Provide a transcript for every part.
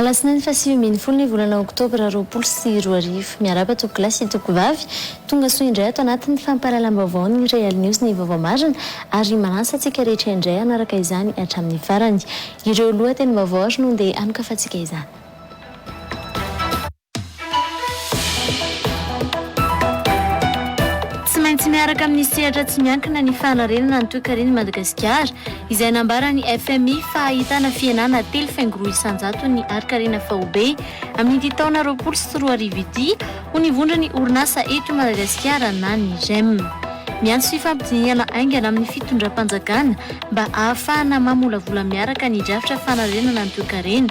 Alasinainy faha sivy ambin'ny folo ny volana oktobra roapolo sy roa arivo. Miarahaba tompokolahy sy tompokovavy. Tonga soa indray ato anatin'ny fampahalalam-baovaon'ny Real News ny vaovao marina ary manasa antsika rehetra indray hanaraka izany hatramin'ny farany. Ireo lohatenim-baovao ary no ndeha hanokafantsika izany. Tsy maintsy miaraka amin'ny sehatra tsy miankina ny fanarenana ny toekaren'i Madagasikara, izay nambaran'ny fmi fa hahitana fihenana telo faingo roa isan-jaton'ny harin-karena faobe amin'ity taona roapolo sy roa arivo ity, ho ny vondron'ny orinasa eto Madagasikara na ny rem. Miantso fifampidinihana haingana amin'ny fitondram-panjakana mba hahafahana mamolavola miaraka ny drafitra fanarenana ny toekarena,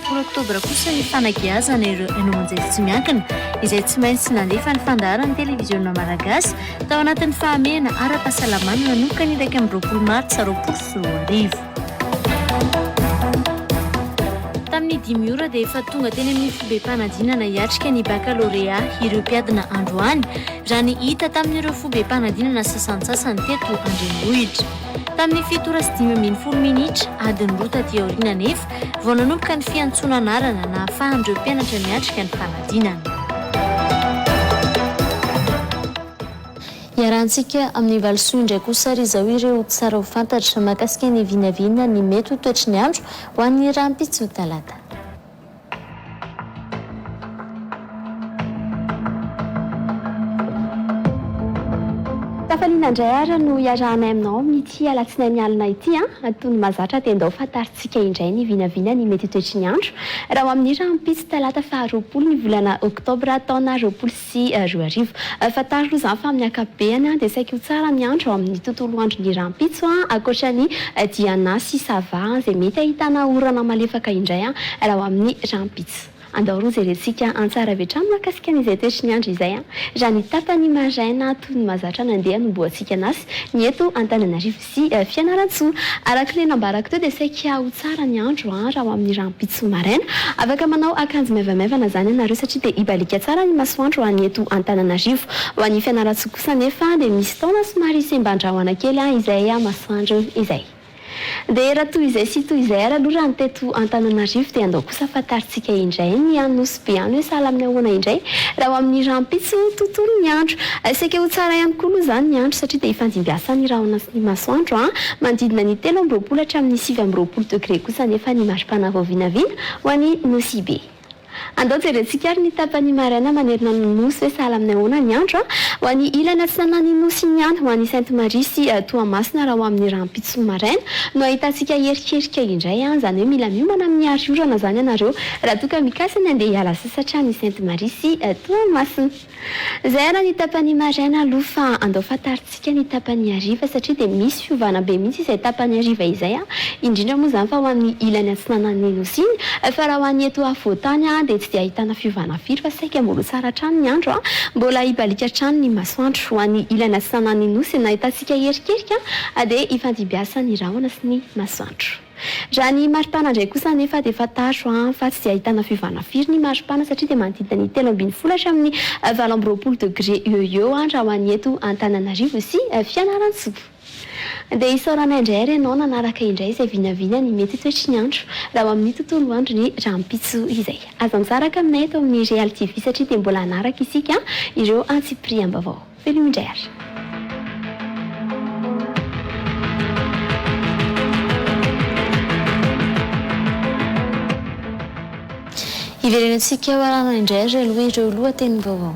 Folo oktobra kosa ny fanagiazana ireo haino aman-jery tsy miankina izay tsy maintsy nandefa ny fandaharan'ny televiziona malagasy tao anatin'ny fahamehana ara-pahasalamana nanoka ny iraika amby roapolo martsa roapolo sy roa arivo. Tamin'ny dimy ora dia efa tonga teny amin'ny fobem-panadinana hiatrika ny bakalorea ireo mpiadina androany, raha ny hita tamin'ireo fobem-panadinana sasantsasany teto an-drenivohitra. Tamin'ny fito ora sy dimy ambin'ny folo minitra, adiny roa taty aoriana anefa, vao nanomboka ny fiantsoana anarana nahafahan'ireo mpianatra niatrika ny fanadinana. Iarahantsika amin'ny valisoa indray kosa ary izao ireo tsara ho fantatra mahakasika ny vinavina ny mety ho toetry ny andro ho an'ny rahampitso talata. Tafaliana indray ary no iarahanay aminao amin'ity alatsinainy alina ity an! Toy ny mahazatra dia ndao fa tsika indray ny vinavina ny mety ho toetry ny andro raha ho amin'ny rahampitso talata faha roapolo ny volana oktobra taona roapolo sy roa arivo. Fantaro aloha izany fa amin'ny ankapobeany dia saiky ho tsara ny andro ao amin'ny tontolo andro ny rahampitso ankoatra ny diana sy sava izay mety ahitana orana malefaka indray raha ho amin'ny rahampitso. Andao roa jerentsika antsara avy hatrany mahakasika an'izay toetry ny andro izay an! Raha ny tapany maraina toy ny mahazatra nandeha no mboa tsy hikan'asa ny eto Antananarivo sy Fianarantsoa. Araka ilay nambarako teo dia saika ho tsara ny andro an! Raha ho amin'ny rahampitso maraina. Afaka manao akanjo maivamaivana izany ianareo satria dia hibaliaka tsara ny masoandro any eto Antananarivo. Ho an'i Fianarantsoa kosa anefa dia misy taona somary semban-drahona kely izay masoandro izay. Dia raha toy izay sy toy izay ary aloha raha ny teto Antananarivo dia andao kosa fantarintsika indray ny any Nosy Be any hoe sahala amin'ny ahoana indray raha ho amin'ny rahampitso tontolo ny andro. Saika ho tsara ihany koa aloha izany ny andro satria dia ifandimbiasan' ny rahona sy ny masoandro an! Manodidina ny telo amby roapolo hatramin'ny sivy amby roapolo degré kosa anefa ny mari-pana vao vinavina ho any Nosy Be. Andao jerentsika ary ny tapany maraina manerana ny Nosy hoe sahala amin'ny ahoana ny andro ho an'ny ilany atsinanan'ny Nosy iny ihany ho an'i Sainte Marie sy Toamasina raha ho amin'ny rahampitso maraina no ahitantsika erikerika indray an! Izany hoe mila miomana amin'ny hariorana izany ianareo raha toa ka mikasa ny handeha hiala sasatra any Sainte Marie sy Toamasina. Zay ara ny tapany maraina aloha fa andao fantarintsika ny tapany hariva satria dia misy fiovana be mihitsy izay tapany hariva izay a! indrindra moa izany fa ho an'ny ilany atsinanan'ny Nosy iny fa raha ho an'ny eto afovoantany a! dia tsy dia ahitana fiovana firy fa saika mbola ho tsara hatrany ny andro a! mbola hibaliaka hatrany ny masoandro ho an'ny ilany atsinanan'ny Nosy nahitantsika erikerika dia hifandimbiasan'ny rahona sy ny masoandro. Raha ny maripana indray kosa anefa dia fantaro fa tsy dia ahitana fiovana firy ny maripana satria dia manodidina ny telo ambin'ny folo hatramin'ny valo amby roapolo degre eo ho eo raha ho an'ny eto Antananarivo sy Fianarantsoa. Dia isaoranay indray ary ianao nanaraka indray izay vinavina ny mety ho toetry ny andro raha ho amin'ny tontolo andro ny rahampitso izay. Aza misaraka aminay eto amin'ny Real TV satria dia mbola hanaraka isika ireo antsipiriam-baovao. Veloma indray ary. Hiverenantsika maràna indray ary aloha ireo lohatenim-baovao.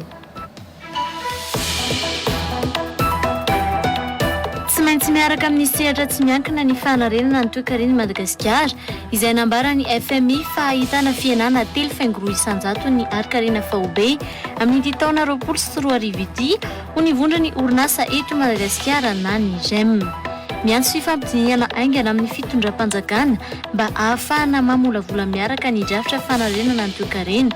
Tsy maintsy miaraka amin'ny sehatra tsy miankina ny fanarenana ny toekaren'i Madagasikara. izay nambaran'ny fmi fa ahitana fihenana telo faingo roa isan-jaton'ny harin-karena faobe amin'ity taona roapolo sy roa arivo ity, ho ny vondron'ny orinasa eto Madagasikara na ny Gem. Miantso fifampidinihana haingana amin'ny fitondram-panjakana mba ahafahana mamolavola miaraka ny drafitra fanarenana ny toekarena.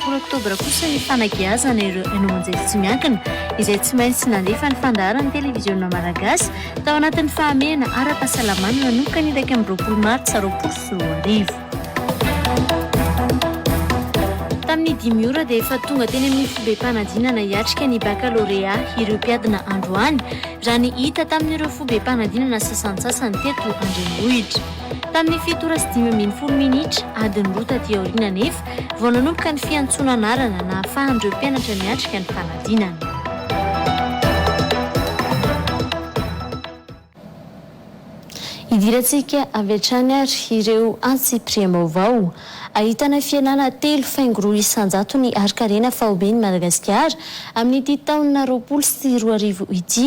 Folo oktobra kosa ny fanageazana ireo haino aman-jery tsy miankina izay tsy maintsy nandefa ny fandaharan'ny televiziona malagasy tao anatin'ny fahamehana ara-pahasalamana nanomboka ny iraika amby roapolo martsa roapolo sy roa arivo. Tamin'ny dimy ora dia efa tonga teny amin'ny fobem-panadinana hiatrika ny bakalorea ireo mpiadina androany, raha ny hita tamin'ireo fobem-panadinana sasantsasany teto an-drenivohitra. Tamin'ny fito ora sy dimy ambin'ny folo minitra, adiny roa taty aoriana anefa, vao nanomboka ny fiantsoana anarana nahafahan'ireo mpianatra niatrika ny fanadinana. Idirantsika avy hatrany ary ireo antsipiriam-baovao. Ahitana fialana telo faingo roa isan-jatony harin-karena faoben'i Madagasikara amin'ity taona roapolo sy roa arivo ity.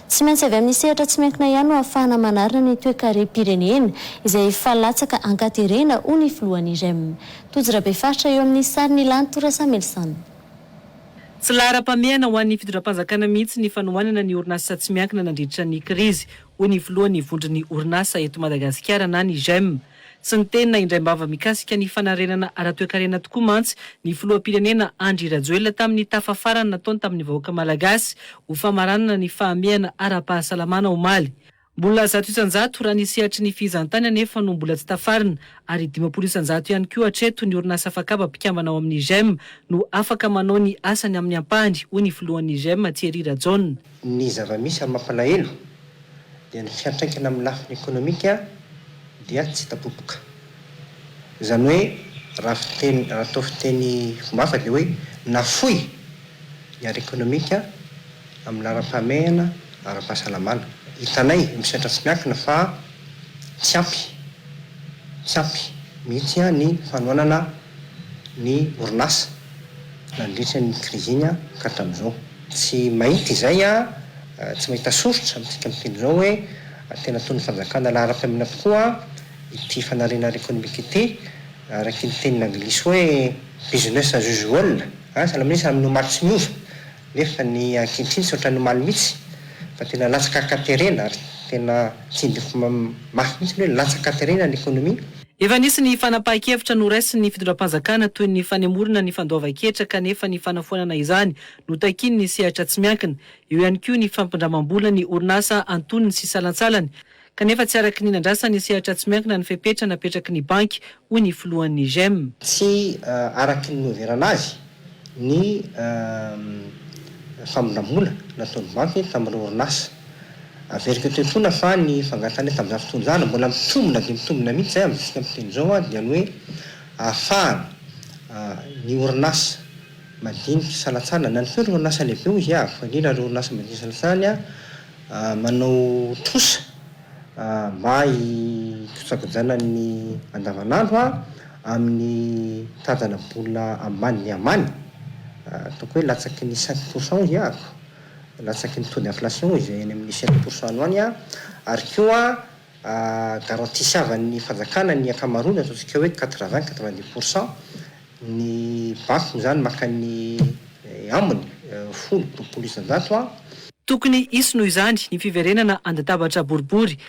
Tsy maintsy avy amin'ny sehatra tsy miankina ihany no ahafahana manarina ny toekarem-pirenena, izay efa latsaka an-katerena, hoy ny filohan'ny rem. Tojo Rabefaritra eo amin'ny sarin'i Lantoura Samuelson. Tsy laharam-pahamehana ho an'ny fitondram-panjakana mihitsy ny fanohanana ny orinasa tsy miankina nandritra ny krizy, hoy ny filohan'ny vondron'ny orinasa eto Madagasikara na ny rem. Tsy niteny na indraim-bava mikasika ny fanarenana ara-toekarena tokoa mantsy ny filoham-pirenena Andry Rajoelina tamin'ny tafa farany nataony tamin'ny vahoaka malagasy ho famaranana ny fahamehana ara-pahasalamana omaly. Mbola zato isan-jato raha ny sehatry ny fizahantany anefa no mbola tsy tafarina ary dimampolo isan-jato ihany koa hatreto ny orinasa fakaba mpikambana ao amin'ny Gem no afaka manao ny asany amin'ny ampahany, hoy ny filohan'ny Gem, Thierry Rajaona. Ny zava-misy ary mampalahelo dia ny fiantraikany amin'ny lafiny ekonomika dia tsy hita popoka. Izany hoe raha fiteny, raha atao fiteny fomba hafa dia hoe nafoy ny ara-ekonomika amin'ny laharam-pahamehana, ara-pahasalamana. Hitanay misedra tsy miankina fa tsy ampy, tsy ampy mihitsy ny fanohanana. ny orinasa nandritra ny krizy iny ka hatramin'izao. Tsy mahita izay aho, tsy mahita soritra amintsika amin'ny teny izao hoe tena ataon'ny fanjakana laharam-pahamehana tokoa ity fanariana ara-ekonomika ity, araka ny tenin'ny anglisy hoe business as usual. Asa ilay minisitra amin'ny omaly tsy miova, nefa ny ankehitriny tsy ohatran'ny omaly mihitsy fa tena latsaka an-katerena ary tena tsindriko mafy mihitsy ny hoe latsaka an-katerena ny ekonomia. Efa nisy ny fanapahan-kevitra noraisin'ny fitondram-panjakana toy ny fanemorana ny fandoavan-ketra kanefa ny fanafoanana izany no takian'ny sehatra tsy miankina. Eo ihany koa ny fampindramam-bola ny orinasa antonony sy salantsalany kanefa tsy araka ny nandrasan'ny sehatra tsy miankina ny fepetra napetraky ny banky, hoy ny filohan'ny Gem. Tsy araka ny noheverana azy ny famindram-bola nataon'ny banky tamin'ireo orinasa. Averiko eto intsona fa ny fangatahana tamin'izany fotoana izany, mbola mitombina dia mitombina mihitsy izay amintsika amin'ny fiteny izao, dia ny hoe ahafahana ny orinasa madinika salantsana na ny koa ireo orinasa lehibe hoy izy aho, fa indrindra ireo orinasa madinika salantsana manao trosa mba hikojakojana ny andavanandro, amin'ny mitantana bola ambany ny ambany, ataoko hoe latsaky ny cinq pour cent hoy aho, latsaky ny taux d'inflation izay eny amin'ny sept pour cent any, ary koa garantisavan'ny fanjakana ny ankamaroany, ataontsika hoe quatre vingt, quatre vingt dix pour cent, ny banky moa izany maka ny ambiny, folo, roapolo isan-jato. Tokony hisy noho izany ny fiverenana an-databatra boribory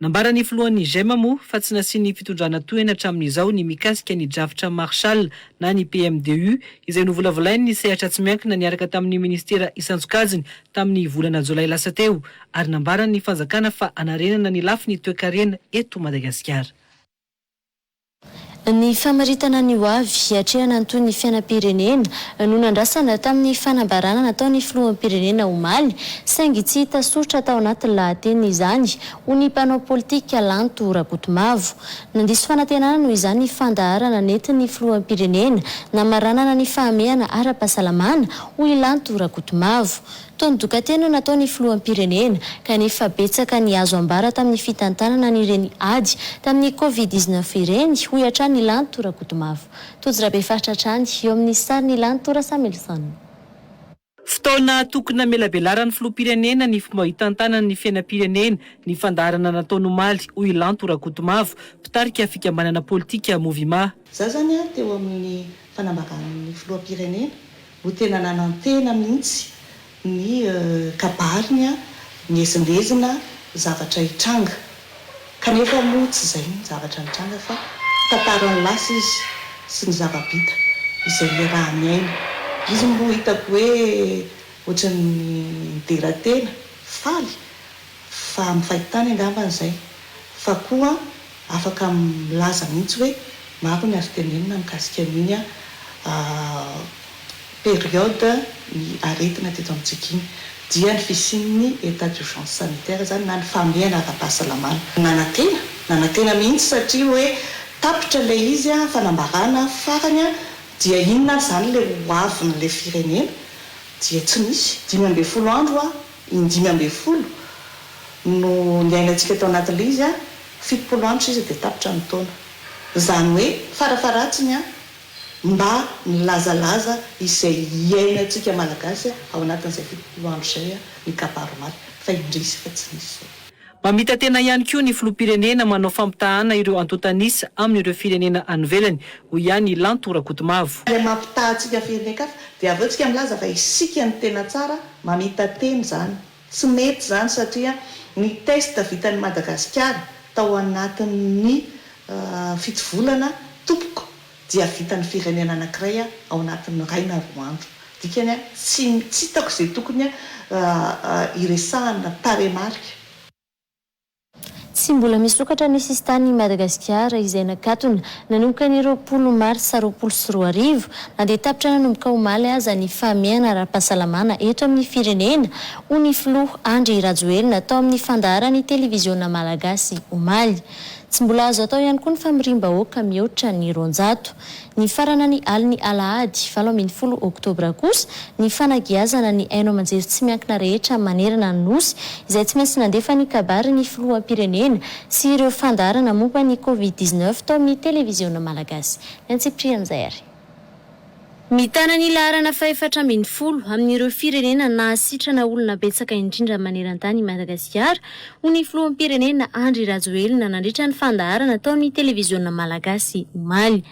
Nambaran'ny filohan'ny Gema moa fa tsy nasian'ny fitondrana tohiny hatramin'izao ny mikasika ny drafitra Marshall na ny PMDU izay novolavolain'ny sehatra tsy miankina niaraka tamin'ny minisitera isan-tsokajiny tamin'ny volana jolay lasa teo ary nambaran'ny fanjakana fa hanarenana ny lafiny toekarena eto Madagasikara. Ny famaritana ny hoavy hiatrehana ny tohin'ny fiainam-pirenena no nandrasana tamin'ny fanambarana nataon'ny filoham-pirenena omaly, saingy tsy hita soritra tao anatin'ny lahateniny izany, hoy ny mpanao politika Lanto Rakotomavo. Nandiso fanantenana noho izany ny fandaharana nentin'ny filoham-pirenena namaranana ny fahamehana ara-pahasalamana, hoy i Lanto Rakotomavo. Toa midoka-teny no natao ny filoham-pirenena, kanefa betsaka ny azo ambara tamin'ny fitantanana an'ireny ady tamin'ny Covid dix neuf ireny, hoy hatrany i Lanto Rakotomavo. Tojo Rabefaritra hatrany, eo amin'ny sarin'i Lanto Rasamilson. Fotoana tokony namelabelaran'ny filoham-pirenena ny fomba hitantanany ny fiainam-pirenena ny fandaharana nataony omaly, hoy i Lanto Rakotomavo, mpitarika fikambanana politika Movima. Za zany a teo amin'ny fanambaran'ny filoham-pirenena no tena nanantena mihitsy ny kabariny a miezinezina zavatra hitranga kanefa moa tsy zay ny zavatra nitranga fa tantaran'ny lasa izy sy ny zava-bita izay iarahan'ny aina izy moa hitako hoe ohatran'ny nidera tena faly fa amin'ny fahitany angambany zay fa koa Afaka milaza mihitsy hoe maro ny azo tenenina mikasika an' iny periode ny aretina teto amintsika iny dia ny fisian' ny état d'urgence sanitaire izany na ny fahamehana ara-pahasalamana. Nanantena, nanantena mihitsy satria hoe tapitra ilay izy, fanambarana farany dia inona ary izany ilay ho avin' ilay firenena dia tsy nisy, dimy ambin'ny folo andro. Indimy ambin'ny folo no niainantsika tao anatin'ilay izy an, fitopolo andro sisa dia tapitra ny taona. Izany hoe farafaharatsiny an, mba nilazalaza izay iainantsika Malagasy ao anatin'izay fitopolo andro izay an, ny kabary omaly, fa indrisy fa tsy nisy izao. Mamita-tena ihany koa ny filoham-pirenena manao fampitahana ireo antontan'isa amin'ireo firenena any ivelany, hoy ihany i Lanto Rakotomavo. Ilay mampitaha antsika firenen-kafa dia avy eo tsika milaza fa isika no tena tsara, mamita-tena izany. Tsy mety izany satria ny test vitan'i Madagasikara tao anatin'ny fito volana tompoko dia vitan'ny firenena anankiray ao anatin'ny iray na roa andro. Dikany, tsy hitako izay tokony hiresahana tarehimarika. Tsy mbola misokatra ny sisin-tany i Madagasikara izay nakatona nanomboka ny roapolo marsa roapolo sy roa arivo, na dia tapitra nanomboka omaly aza ny fahamehana ara-pahasalamana eto amin'ny firenena, hoy ny filoha Andry Rajoelina tao amin'ny fandaharan'ny televiziona malagasy omaly. Tsy mbola azo atao ihany koa ny famoriam-bahoaka mihoatra ny roanjato. Nifarana ny alin'ny alahady valo ambin'ny folo oktobra kosa ny fanagiazana ny haino aman-jery tsy miankina rehetra manerana ny Nosy, izay tsy maintsy nandefa ny kabary ny filoham-pirenena sy ireo fandaharana momba ny covid dix-neuf tao amin'ny televiziona malagasy. Ny antsipirihan'izay ary. Mitana ny laharana fahefatra ambin'ny folo amin'ireo firenena nahasitrana olona betsaka indrindra maneran-tany i Madagasikara, hoy ny filoham-pirenena Andry Rajoelina nandritra ny fandaharana tao amin'ny televiziona malagasy omaly.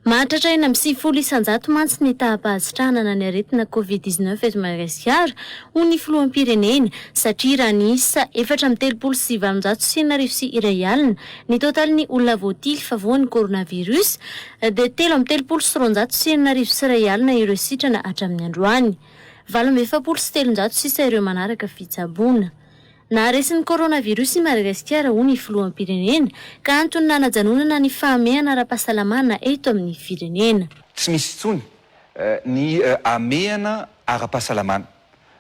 Mahatratra enina amby sivifolo isan-jato mantsy ny taham-pahasitrahanana ny aretina Covid dix neuf eto Madagasikara, hoy ny filoham-pirenena, satria raha niisa efatra amby telopolo sy valonjato sy enina arivo sy iray alina ny totalin'ny olona voatily fa voan'ny coronavirus, dia telo amby telopolo sy roanjato sy enina arivo sy iray alina ireo sitrana hatramin'ny androany. Valo amby efapolo sy telonjato sisa ireo manaraka fitsaboana. Naharesin'ny coronavirus i Madagasikara, hoy ny filoham-pirenena, ka antony nanajanonana ny fahamehana ara-pahasalamana eto amin'ny firenena. Tsy misy intsony ny hamehana ara-pahasalamana.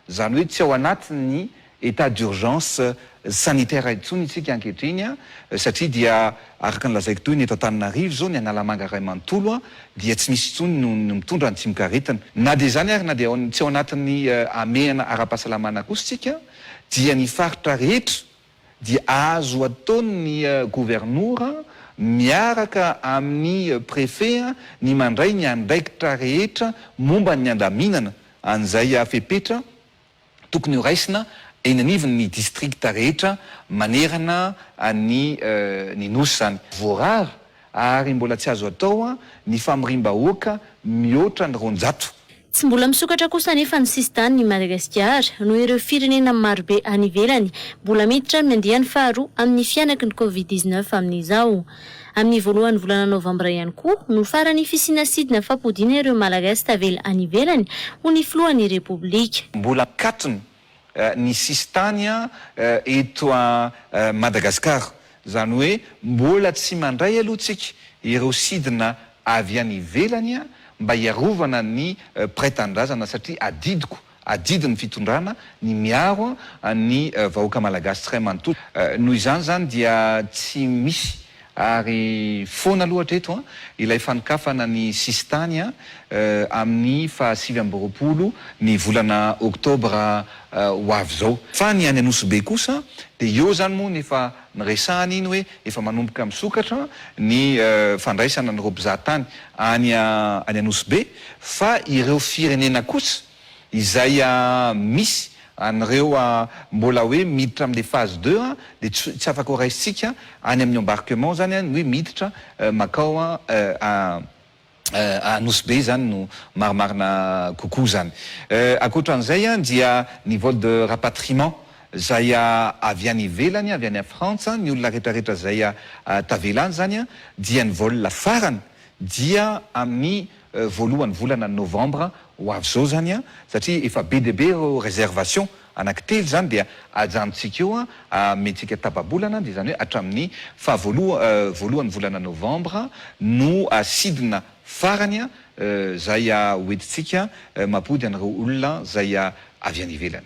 Izany hoe tsy ao anatin'ny état d'urgence sanitaire intsony isika ankehitriny satria dia araka ny lazaiko teo iny eto Antananarivo izao ny Analamanga iray manontolo dia tsy misy intsony no mitondra ny tsimokaretina. Na dia izany ary na dia tsy ao anatin'ny hamehana ara-pahasalamana kosa isika dia ny faritra rehetra, dia azo ataon'ny governora miaraka amin'ny prefe ny mandray ny andraikitra rehetra momba ny andaminana an'izay fepetra tokony ho raisina eny anivon'ny distrikta rehetra manerana ny ny Nosy izany. Voarara ary mbola tsy azo atao ny famoriam-bahoaka mihoatra ny roanjato. Tsy mbola misokatra kosa anefa ny sisin-tanin' i Madagasikara noho ireo firenena marobe any ivelany mbola miditra amin'ny andiany faharoa amin'ny fihanaky ny Covid dix-neuf amin'izao. Amin'ny voalohan'ny volana novambra ihany koa no farany fisiana sidina fampodiana ireo Malagasy tavela any ivelany ho ny filohan'ny Repoblika. Mbola an-katrina ny sisintany eto Madagasikara. Izany hoe mbola tsy mandray aloha tsika ireo sidina avy any ivelany mba hiarovana ny mpiray tanindrazana satria adidiko, adidin'ny fitondrana ny miaro ny vahoaka malagasy tsiray manontolo. Noho izany izany dia tsy misy Ary foana aloha hatreto ilay fanokafana ny sisintany amin'ny faha sivy amby roapolo ny volana oktobra ho avy izao. Fa ny any Anosibe kosa dia eo izany moa no efa niresahana iny hoe efa manomboka misokatra ny fandraisana an'ireo mpizahatany any Anosibe fa ireo firenena kosa Izay misy an'ireo mbola hoe miditra amin'ilay phase deux dia tsy afaka ho raisintsika any amin'ny embarquement izany ny hoe miditra makao Anosy Be izany no marimarina kokoa izany. Ankoatra an'izay dia ny vol de rapatriement izay avy any ivelany, avy any Frantsa, ny olona rehetrarehetra izay tavela any izany dia ny vol farany dia amin'ny voalohany volana novembre ho avy zao zany an, satria efa be dia be ireo reservation anaky telo zany dia ajanontsika eo an, amentsika tababolana dia izany hoe hatramin'ny faha voalohany volana novembre no sidina farany an, zay hoentintsika mampody an'ireo olona zay avy any ivelany.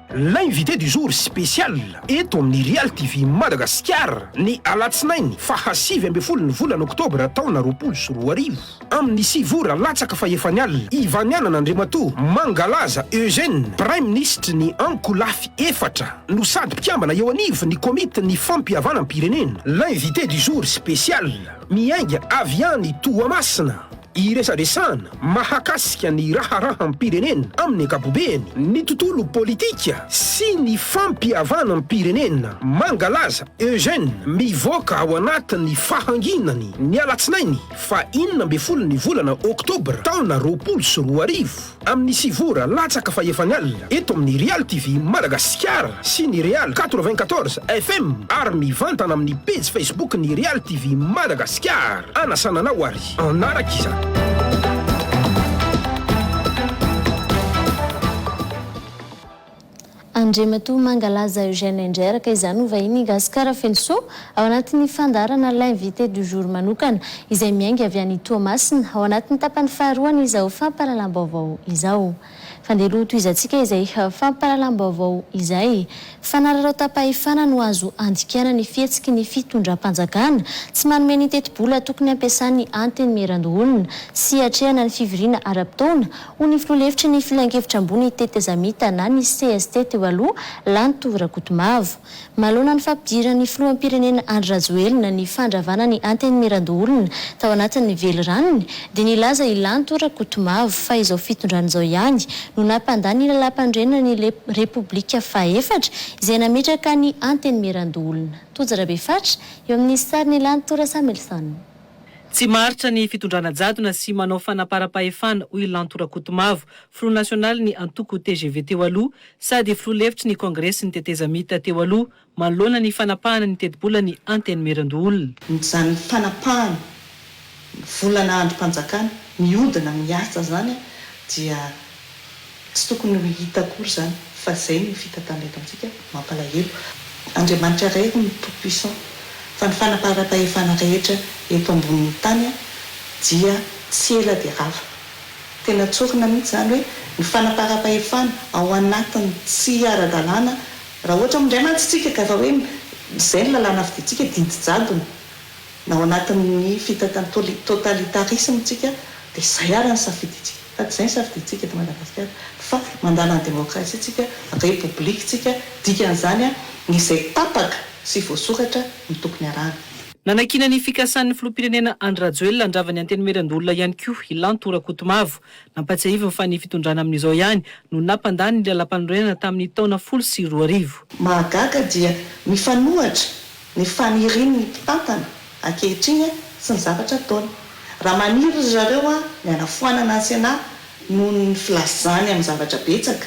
L'invité du jour spécial eto amin'ny Real TV Madagasikara ny alatsinainy faha sivy ambin'ny folo ny volana oktobra taona roapolo sy roa arivo amin'ny sivy ora latsaka fahefany alina i Vanianana Andriamatoa Mangalaza Eugène praiminisitry ny ankolafy efatra no sady mpikambana eo anivon'ny komitin'ny fampihavanam-pirenena. L'invité du jour spécial miainga avy any Toamasina. Iresadresahana mahakasika ny raharaham-pirenena amin'ny ankapobeny, ny tontolo politika sy ny fampihavanam-pirenena, Mangalaza Eugène, mivoaka ao anatin'ny fahanginany ny alatsinainy faha enina ambin'ny folo ny volana oktobra taona roapolo sy roa arivo. Amin'ny sivy ora latsaka fa efa ny alina, eto amin'ny Real TV Madagasikara sy ny Real quatre-vingt-quatorze FM ary mivantana amin'ny pejy Facebook ny Real TV Madagasikara. Anasana anao ary hanaraka izany. Andriamatoa Mangalaza Eugène Indray araka izany ho vahiny i Gasikara Fenosoa ao anatin'ny fandaharana L'invité du jour manokana izay miainga avy any Toamasina ao anatin'ny tapany faharoan'izao fampahalalam-baovao izao. Fandehalo ho tohizantsika izay fampahalalam-baovao izay. Fanararaotam-pahefana no azo andikana ny fihetsiky ny fitondram-panjakana tsy manome ny tetibola tokony hampiasany antenimierandoholona sy hatrehana ny fivoriana ara-potoana hoy ny filoha lefitry ny Filankevitra ambony tetezamita na ny cst teo aloha, Lanto Rakotomavo. Manoloana ny fampidiran'ny filoham-pirenena Andry Rajoelina ny fandravana ny Antenimierandoholona tao anatin'ny veliranony dia nilaza i Lanto Rakotomavo fa izao fitondrana izao ihany no nampandà ny Lalàmpanorenana ny Repoblika fahefatra izay nametraka ny Antenimierandoholona. Tojo Rabefatra, eo amin'ny sarin'i Lanto Rasamilson. Tsy maharitra ny fitondrana jadona sy manao fanaparam-pahefana, hoy Lanto Rakotomavo, filoha nasionalin'ny antoko tgv teo aloha, sady filoha lefitry ny kongresin'ny tetezamita teo aloha, manoloana ny fanapahana ny tetibolan'ny Antenimierandoholona. Izany fanapahana volana andrim-panjakana mihodina miasa izany dia Tsy tokony ho hita akory izany fa izay no fitantanana eto amintsika, mampalahelo. Andriamanitra iray hono no tout puissant fa ny fanaparam-pahefana rehetra eto ambonin'ny tany dia tsy ela dia rava. Tena tsorina mihitsy izany hoe ny fanaparam-pahefana ao anatiny tsy ara-dalàna raha ohatra moa indray mantsy tsika ka efa hoe izay ny lalàna fidintsika didy jadona. Na ao anatin'ny fitantan'ny toli, totalitarisme, tsika dia izay ary ny safidintsika. Sady izay ny safidintsika eto Madagasikara fa mandala ny demokrasia tsika, repoblika tsika, dikan'izany izay tapaka sy voasoratra no tokony arahana. Nanakiana ny fikasan'ny filoham-pirenena Andry Rajoelina handrava ny antenimieran-doholona ihany koa i Lanto Rakotomavo. Nampatsiahiviny fa ny fitondrana amin'izao ihany no nampandany ny lalam-panorenana tamin'ny taona folo sy roa arivo. Mahagaga dia mifanohatra Ny fanirin' ny mpitantana ankehitriny sy ny zavatra ataony. Raha maniry ry zareo ny hanafoanana ny Sénat noho ny filazany amin'ny zavatra betsaka,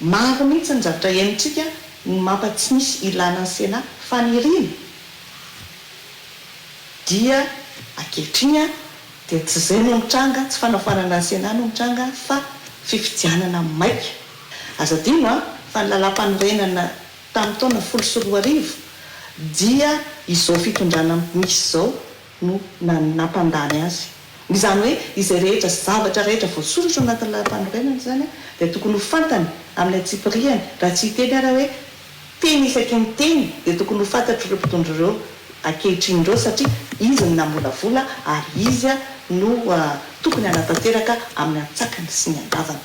maro mihitsy ny zavatra henontsika ny mapa tsy misy ilana ny Sénat, faniriana, dia ankehitriny dia tsy izay no mitranga, tsy fanafoanana ny Sénat no mitranga fa fifidianana maika. Aza adino fa ny lalam-panorenana. Tamin'ny taona folo sy roa arivo dia izao fitondrana misy izao no nampandany azy. Izany hoe izay rehetra sy zavatra rehetra voasoratra ao anatin'ny Lalampanorenana izany dia tokony ho fantany amin'ny antsipiriany raha tsy hiteny ary aho hoe teny isaky ny teny dia tokony ho fantatr'ireo mpitondra ireo ankehitriny ireo satria izy no namolavola ary izy no tokony hanatanteraka amin'ny antsakany sy ny andavany.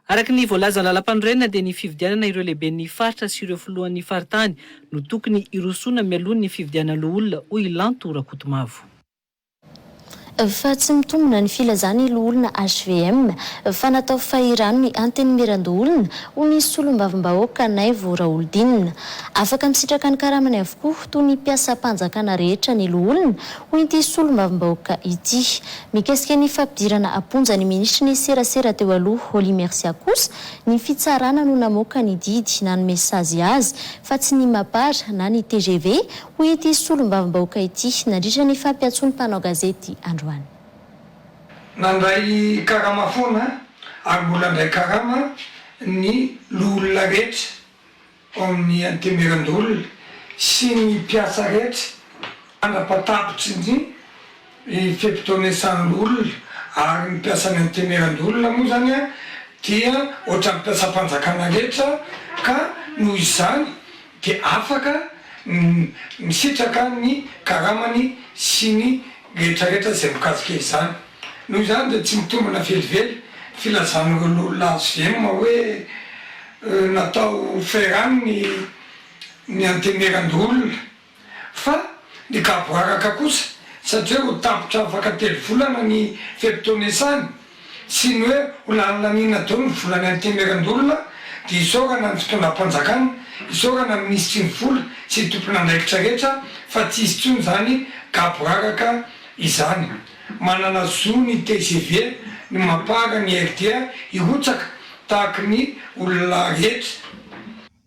Araka ny voalazan'ny lalampanorenana dia ny fifidianana ireo lehiben'ny faritra sy ireo filohan'ny faritany no tokony hirosoana mialoha ny fifidianana loholona hoy i Lanto Rakotomavo. Fa tsy mitombina ny filazana i Loholona HVM fa natao fahirano ny Antenimierandoholona hoy ny Solombavambahoaka Naivo Raholidinina. Afaka misitraka ny karamany avokoa toy ny mpiasam-panjakana rehetra ny loholona Hoy ity solombavambahoaka ity. Mikasika ny fampidirana am-ponja ny minisitry ny serasera teo aloha, Holly Mercia kosa, ny fitsarana no namoaka ny didy nanome sazy azy fa tsy ny Mapar na ny tgv, hoy ity solombavambahoaka ity nandritra ny fampiantsoan'ny mpanao gazety androany. Nandray karama foana ary mbola handray karama ny loholona rehetra Ho amin'ny Antemirandolona sy ny mpiasa rehetra, mandrapa-tapitry ny fe-potoanesan' olona, ary ny mpiasan'ny Antemirandolona moa izany dia ohatran'ny mpiasam-panjakana rehetra ka noho izany dia afaka misitraka ny karamany sy ny rehetrarehetra izay mikasika izany. Noho izany dia tsy mitombina velively ny filazan'ireo loholona hvm hoe natao ferrant ny ny antenieran-doholona fa ny gaboraraka kosa satria ho tapitra afaka telo volana ny fe-potoan'iasany sy ny hoe ho lany laniana daholo ny volan'ny antenieran-doholona dia isaorana ny fitondram-panjakana, isaorana ny minisitry ny vola sy ny tompon'andraikitra rehetra fa tsy hisy intsony izany gaboraraka izany. Manana zo ny tgv ny mampara ny RDA hirotsaka tahaky ny olona rehetra.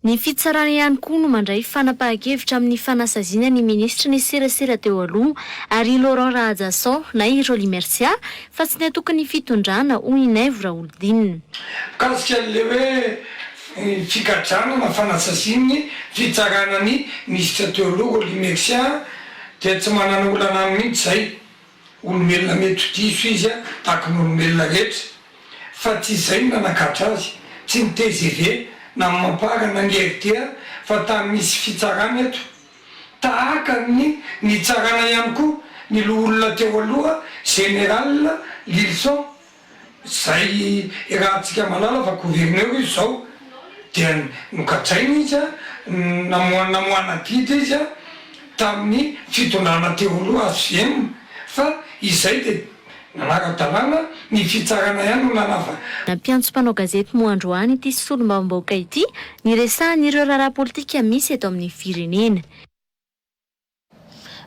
Ny fitsarana ihany koa no mandray fanapahan-kevitra amin'ny fanasaziana ny minisitry ny serasera teo aloha ary i Laurent Rahajasao na i Rolly Mercia fa tsy ny antokon'ny fitondrana, hoy i Naivo Raholidinina. Mikasika an'ilay hoe figadrana na fanasazian'ny fitsarana ny minisitra teo aloha Rolly Mercia, Dia tsy manana olana aminy mihitsy izay. Olombelona mety ho diso izy tahaka ny olombelona rehetra. Fa tsy izay no nanagadra azy. Tsy ny tgv na ny mampara na ny rta fa tany misy fitsarana eto. Tahaka ny nitsarana ihany koa ny loholona teo aloha Général Lylison Izay irahantsika malala fa gouverneur izy izao dia nogadraina izy a, namoha namoahana didy izy a, tamin'ny fitondrana teo aloha hvm, fa izay dia nanara-dalàna, ny fitsarana ihany no nanava. Nampiantso mpanao gazety moa androany ity solombavambahoaka ity niresahany ireo raharaha politika misy eto amin'ny firenena.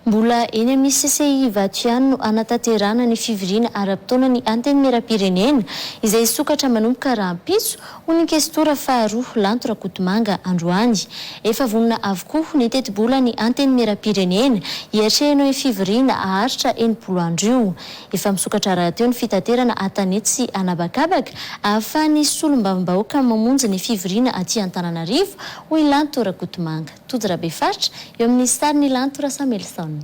Mbola eny amin'ny CCI Ivato ihany no hanatanterahana ny fivoriana ara-potoana ny Antenimierampirenena izay hisokatra manomboka rahampitso, hoy ny Kestora faharoa Lanto Rakotomanga androany. Efa vonona avokoa ny tetibolan'ny Antenimierampirenena hiatrehana io fivoriana haharitra enimpolo andro io. Efa misokatra rahateo ny fitaterana an-tanety sy an'habakabaka ahafahan'ny solombavambahoaka mamonjy ny fivoriana aty Antananarivo, hoy Lanto Rakotomanga. Tojo Rabefaritra, eo amin'ny sarin'i Lanto Rasamelison.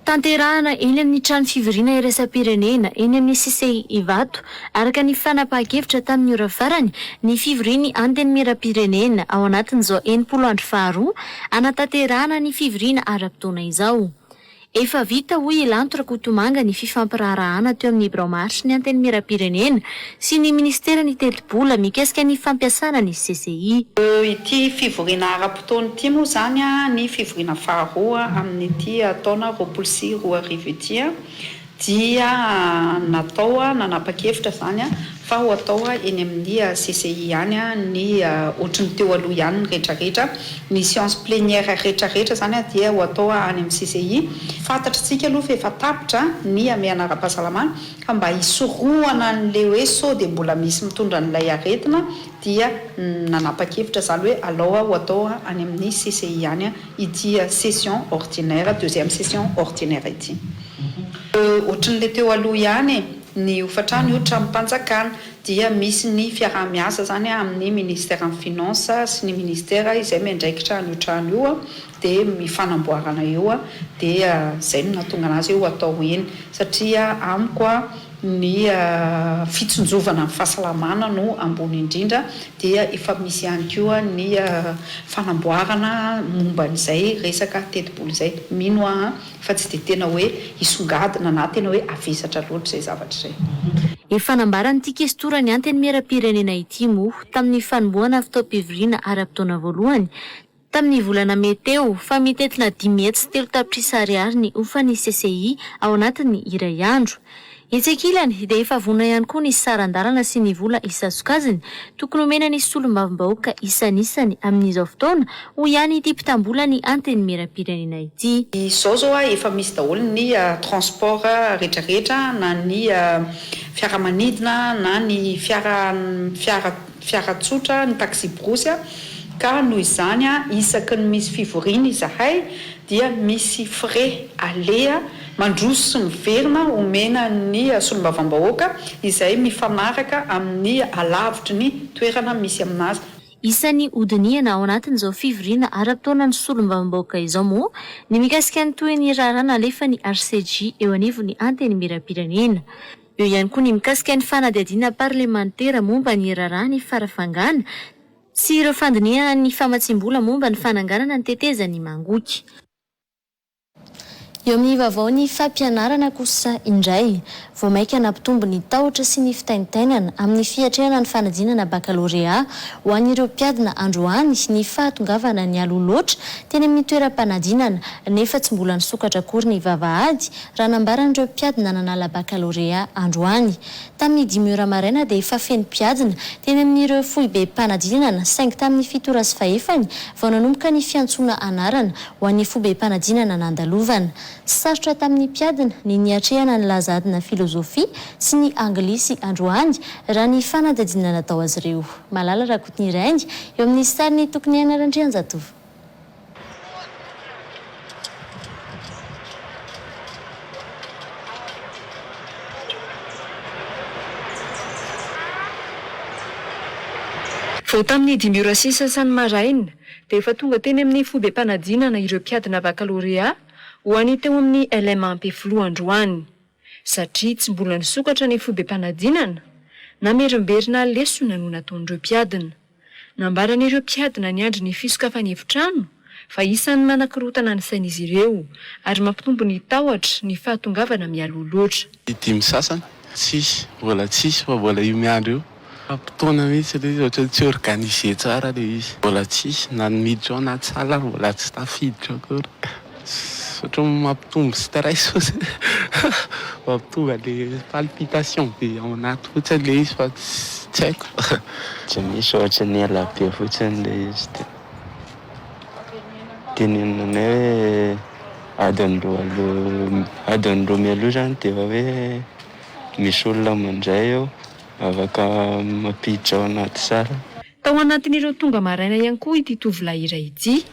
Tanterahana eny amin'ny trano fivoriana iraisam-pirenena eny amin'ny Cisei Ivato, araka ny fanapahan-kevitra tamin'ny ora farany, ny fivorian'ny Antenimierampirenena ao anatin'izao enimpolo andro faharoa hanatanterahana ny fivoriana ara-potoana izao. Efa vita hoy i Lanto Rakotomanga ny fifampiraharahana teo amin'ny Birao Maritry ny Antenimierampirenena sy ny Minisiteran'ny Tetibola mikasika ny fampiasana ny CCI. Ity fivoriana ara-potoana ity moa izany ny fivoriana faharoa amin'ity taona roapolo sy roa arivo ity. dia natao nanapa-kevitra izany fa ho atao eny amin'ny CCI ihany ny ohatry ny teo aloha ihany ny rehetrarehetra, ny séance plénière rehetrarehetra izany dia ho atao any amin'ny CCI. Fantatr'isika aloha fa efa tapitra ny hamehana ara-pahasalamana fa mba hisorohana an'ilay hoe sao dia mbola misy mitondra an'ilay aretina dia nanapa-kevitra izany hoe alao ho atao any amin'ny CCI ihany ity session ordinaire, deuxième session ordinaire ity. Ohatran'ilay teo aloha ihany e, ny hofantrano io tranom-panjakana dia misy ny fiaraha-miasa izany amin'ny Ministeran'ny Finances sy ny Ministera izay miandraikitra an'io trano io dia mifanamboarana eo dia izay no nahatonga an'azy hoe ho atao eny satria amiko ny fitsinjovana ny fahasalamana no ambony indrindra dia efa misy ihany koa ny fanamboarana momba an'izay resaka tetibola izay, mino aho fa tsy dia tena hoe hisongadina na tena hoe havesatra loatra izay zavatra izay. Efa nambaran'ity kestora ny Antenimieram-pirenena ity moa tamin'ny fanombohana fotoam-pivoriana ara-potoana voalohany tamin'ny volana mey teo, fa mitentina dimy hetsy sy telo tapitrisa ariary ny hofan'ny CCI ao anatin'ny iray andro. Etsy ankilany, dia efa vonona ihany koa ny saran-dalana sy ny vola isasokajiny tokony homena ny solombavambahoaka isanisany amin'izao fotoana, hoy ihany ity mpitam-bolan'ny Antenimierampirenena ity. Izao izao efa misy daholo ny transport rehetrarehetra na ny fiaramanidina na ny fiara fiara fiara tsotra, ny taxi-borosy, ka noho izany isaky ny misy fivoriana izahay dia misy frais aleha mandroso sy miverina omena ny solombavambahoaka izay mifanaraka amin'ny halavitry ny toerana misy aminazy. Isan'ny hodinihana ao anatin'izao fivoriana ara-potoana ny solombavambahoaka izao moa ny mikasika ny tohin'ny raharaha nalefan'ny RCJ eo anivon'ny Antenimierampirenena. Eo ihany koa ny mikasika ny fanadihadiana parlemantera momba ny raharaha ny farafangana sy ireo fandinihana ny famatsiam-bola momba ny fananganana ny tetezan'i Mangoky. Eo amin'ny vaovao ny fampianarana kosa indray, vao mainka nampitombo ny tahotra sy ny fitaintainana amin'ny fiatrehana ny fanadinana bakalorea ho an'ireo mpiadina androany ny fahatongavana nialoha loatra teny amin'ny toeram-panadinana nefa tsy mbola nisokatra akory ny vavahady Raha nambaran'ireo mpiady nanana la bakalôrea androany, tamin'ny dimy ora maraina dia efa feno mpiadina teny amin'ireo foibe mpanadinana saingy tamin'ny fito ora sy fahefany vao nanomboka ny fiantsoana anarana ho an'ny foibe mpanadinana nandalovana. Sarotra tamin'ny mpiadina ny niatrehana ny laza adina filôzôfia sy ny anglisy androany raha ny fanadihadiana natao azy ireo. Malala Rakotoniainga, eo amin'ny sarin'i Tokoniaina Randrianjatovo. Vao tamin'ny dimy ora sisa sany maraina dia efa tonga teny amin'ny fobem-panadinana ireo mpiadina bakalorea ho any teo amin'ny LMA Ampefiloha androany. satria tsy mbola nisokatra ny fobem-panadinana, namerimberina lesona no nataon'ireo mpiadina. Nambaran'ireo mpiadina niandry ny fisokafany efitrano fa isan'ny manakorontana ny sain'izy ireo ary mampitombo ny tahotra ny fahatongavana mialoha loatra. Ny dimy sasany, tsisy, mbola tsisy fa mbola io miandry io. Faram-potoana mihitsy aloha izy ohatran'ny tsy organiser tsara ilay izy. Mbola tsisy na ny miditra ao anaty salle ary mbola tsy tafiditra akory. Ohatran'ny mampitombo stress fotsiny. Mampitomba ilay palpitation be ao anaty fotsiny ilay izy fa tsy haiko. Tsy misy ohatran'ny ela be fotsiny ilay izy dia tenenina anay hoe adiny roa aloha, adiny roa mialoha izany dia efa hoe misy olona mandray eo. Afaka mampiditra ao anaty tsara. Tao anatin'ireo tonga maraina ihany koa ity tovolahy iray ity.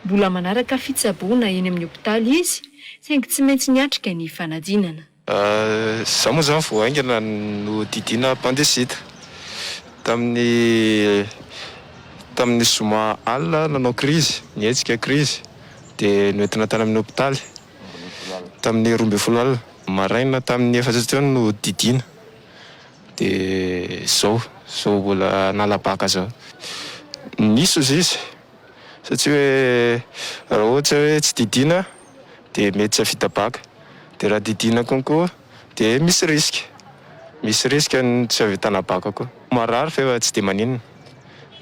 Mbola manaraka fitsaboana eny amin'ny hopitaly izy, saingy tsy maintsy niatrika ny fanadinana. Izaho moa izany vao haingana no didiana appendicite. Tamin'ny tamin'ny zoma alina aho nanao krizy, nihetsika krizy, dia noentina tany amin'ny hopitaly. Tamin'ny roa ambin'ny folo alina maraina tamin'ny efatra teo no didiana. Dia izao, izao mbola hanala baka izao. Nisy ozy izy, satsia hoe raha ohatra hoe tsy didiana dia mety tsy hahavita baka, dia raha didiana concours dia misy risque, misy risque ny tsy hahavitana baka koa. Marary fa efa tsy dia maninona.